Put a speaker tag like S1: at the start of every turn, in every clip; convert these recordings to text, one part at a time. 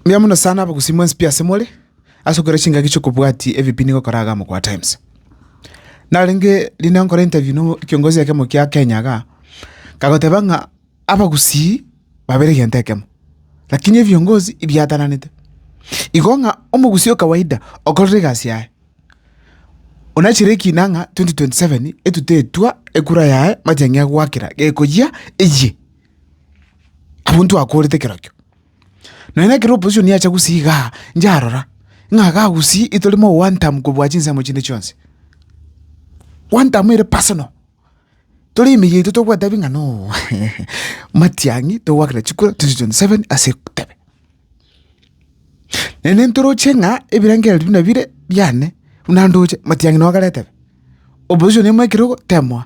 S1: Mbuya mono sana abagusii mwensi pi asemore, ase okora chingaki chi'okobwatia ebibe nigo okora iga Mogwa Times. Narenge rinde nkore interview no kiongozi ekemo kia Kenya igaa, kagoteba ng'a abagusii babere egento ekemo, lakini ebiongozi ibiatananete. Igo ng'a omogusii o kawaida okorora egasi yaye, onachire ekina ng'a twenty twenty seven etuta etwa ekura yaye machang'ia goakera gekoyia eyie abwo ntwakorete kerokio. Nonya nekero opposition yacha gusii igaa, njarora, ng'a iga agusii itore mo one term kobua chinsemo chinde chionsi. One term ere personal, tore emeyia yaito togoetebi ng'a no Matiang'i togoakera chikura twenty twenty seven ase ekutebe. Naende ntoroche ng'a ebirengereri buna bire biane, buna ndoche, Matiang'i nokare etebe, opposition emo ekerogo temoa.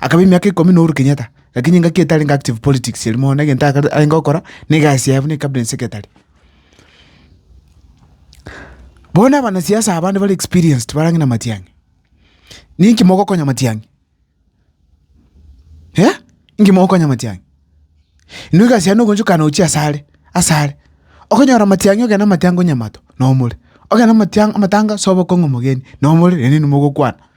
S1: Akaba emiaka ikomi na oboru Kenyatta, lakini engaki eye tarenge active politics eria mono, egento ake arenge gokora, na egasi yaye buna cabinet secretary. Bono abanasiasa abande bare experienced bare ang'e na Matiang'i, ninki mogokonya Matiang'i? eh, inki mogokonya Matiang'i? Inwe egasi yaye nogochukana ochie asare, asare, okonyora Matiang'i ogende amatenga onyamato, nomore, ogende amatia- amatanga sobe okong'u omogeni, nomore, naende inwe mogokwana.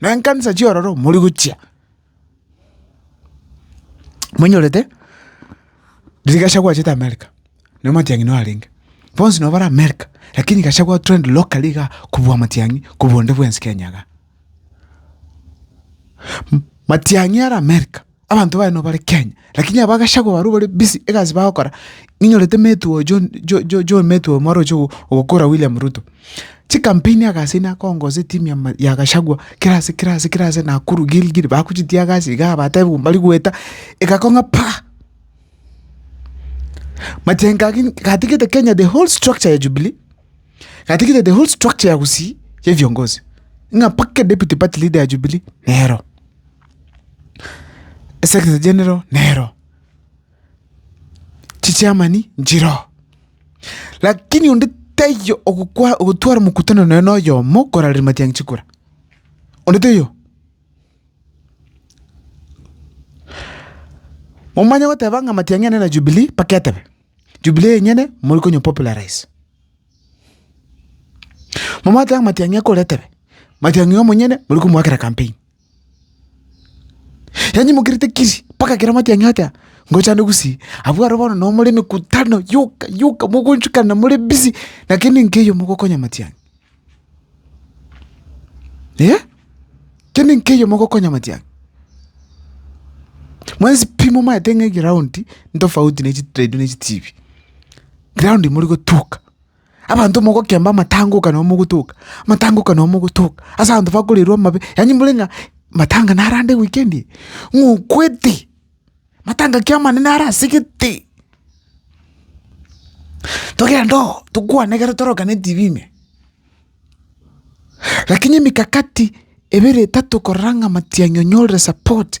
S1: Na enkansa chi'ororo mori gochia, monyorete riria gachagua achete America, nere matiang'i noo arenge. Bonsi noo bare America, lakini gachagua o trend locally igaa kobua amatiang'i kobua onde bwensi Kenya igaa. Matiang'i are America. Abanto baye nobare Kenya, lakini aba gachagua barabwo bare busy egasi bagokora, ninyorete mate oyo John Jo- Jo- John mate oyo mwaroche go- gokora William Ruto, chicampaign agaseini akonga gose etimu ya ma- ya gachagua, kera ase kera ase kera ase Nakuru, Gilgil, bagochitia gasi igaa batebe bo mbari goeta, egakoo ng'a paa! Majengo ake nki gatigete Kenya the whole structure ya Jubilee, gatigete the whole structure ya Gusii ya ebiongozi, ng'a mpaka deputy party leader ya Jubilee nero. Esegete general nero, chichairmani nchiroo, lakini onde taiyo ogokwa ogotwara omokutano nonya na oyomo koraria matiang'i chikura, onde taiyo. Momanye goteba ng'a matiang'i ane na Jubilee mpaka etebe, Jubilee enyene mori konya popularise. Momanye goteba ng'a matiang'i ekore etebe, matiang'i omonyene mori komoakera campaign. Yanyimokerete kiri mpaka ekero amate ang'e atea, ngochande gusii, abwo aro bono nomore emekutano yoka yoka mogochukana more busy, lakini nkeiyo mogokonya amati ang'e. Eeh, kende nkeiyo mogokonya amati ang'e. Mwensi pi momaete ng'a egroundi ntofauti ne chitrade ne chitibi, ground morigotuka. Abanto mogokemba amatangoka nabo mogotoka, amatangoka nabo mogotoka, ase abanto bakorerwa amabe, yaani more ng'a matanga narande weekend eye, ng'okwete, matanga ki amanene are ase gete. Togende oo, tokwane ekero tororekane etv ime, lakini emikakati ebere etato korora ng'a matianyorire support.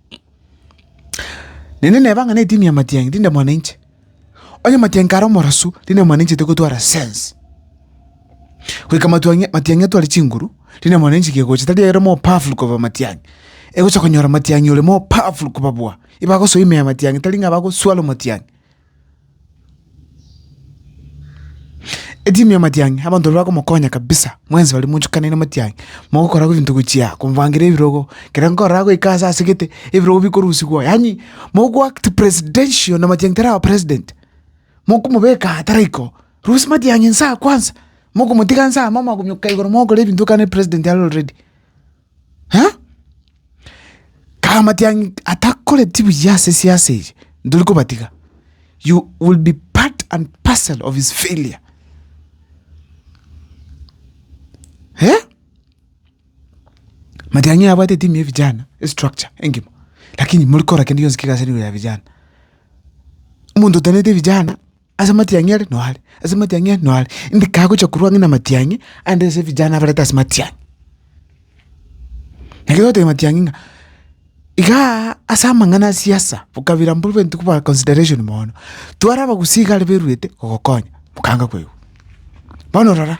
S1: Naende neba ng'a netimi ya Matiang'i tinde mwana inche. Onye Matiang'i kare omorasu, tinde mwana inche togotwara sense. Goika Matiang'i Matiang'i atware chinguru, tinde mwana inche kegocha tari ere more powerful koba Matiang'i. Egocha konyora Matiang'i ore more powerful kobabua. Ibagosoa ime ya Matiang'i tari ng'a bagoswalwa Matiang'i. Etimu ya matiang'i abanto baria bakomokonya kabisa, mwensi baria mochukanire matiang'i, mogokora ebinto gochia komobangera ebirogo, ekero nkorora agoika ase asegete, ebirogo bikorusigwa yaani mogo act presidential na matiang'i taraba president, mokomobeka aa taraiko, rusia matiang'i inse aa kwanza, mokomotiga inse aa mokomoka igoro mogokora ebinto kare president are already. Eh? Kaamatia ng'a atakoreti buya ase siasa eye, ntori kobatiga. You will be part and parcel of his failure. Eh? Matiang'i abwate etimu ya vijana, estructure engima. Lakini mori kora kende gionsi kegase nigo ya vijana. Omonto otenete vijana, Ase amatiang'i are no are, ase amatiang'i are no are, ndikagocha korwa ang'e namatiang'i ande ase vijana abareta ase matiang'i. Naki togotebia matiang'i ng'a igaa ase amang'ana a siasa bokabira mbuna babe ntikoba consideration mono, tware abagusii iga are baruete gogokonya mokanga koigwa. Bono rora,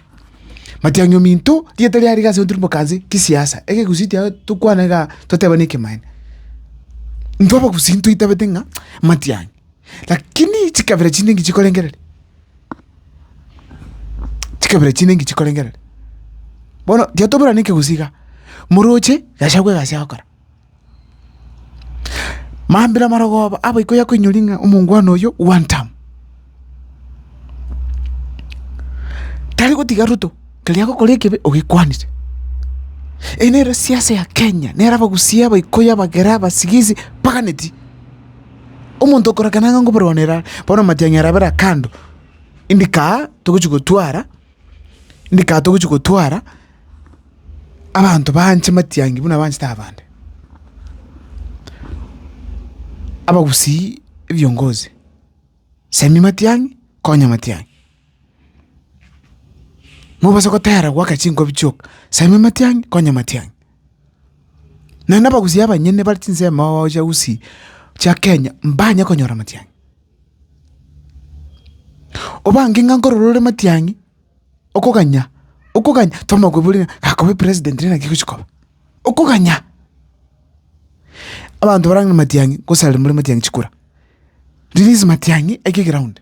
S1: matiang'i ominto rieta riare iga ase ntwe rimokanse kisiasa, egegusii kiago tokwane igaa totebane ekemaene. Intwe abagusii ntoitabete ng'a matiang'i. Lakini chikabera chinde ngichikorengereria, chikabera chinde ngichikorengereria. Bono tiga toburane ekegusii igaa, moroche gachagwe egasi ya gokora. Mambia amarogoba abo iko yakoinyoria ng'a omongwana oyio one term. Tari gotiga ruto, keri agokora ekebe ogekwanire. Eye nere siasa ya Kenya, nere abagusii aba ikoyo abagera abasigisi baganeti. omonto okorakana ng'a nkoborwanera are, bono amatiang'i ara abere aa kando, indika aa togochia gotwara, indika aa togochia gotwara abanto baanche matiang'i buna abanchete abande. Abagusii ebiongozi, semia matiang'i, konya matiang'i. Mobase gotera goaka chinkobi chioka, saima amatiang'i, konya amatiang'i. Naende abagusi abanyene bare chinsemo ao chia usi chia Kenya, mbanye konyora amatiang'i. Obange ng'a nkorora ore matiang'i, okoganya, okoganya tomokoboria ng'a akobe president rende naki egochi koba, okoganya. Abanto barang'ana matiang'i gosarerwa more matiang'i chikura, release matiang'i eke egeround.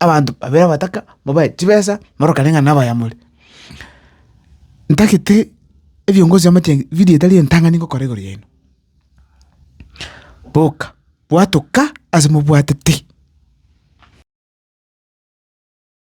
S1: abanto babere abataka mobae chibesa morokane ng'a nabaya more. Ntagete ebiongozi amache video etari entang'ani ngokora igoro yaino. Boka bwatoka ase mobwatete.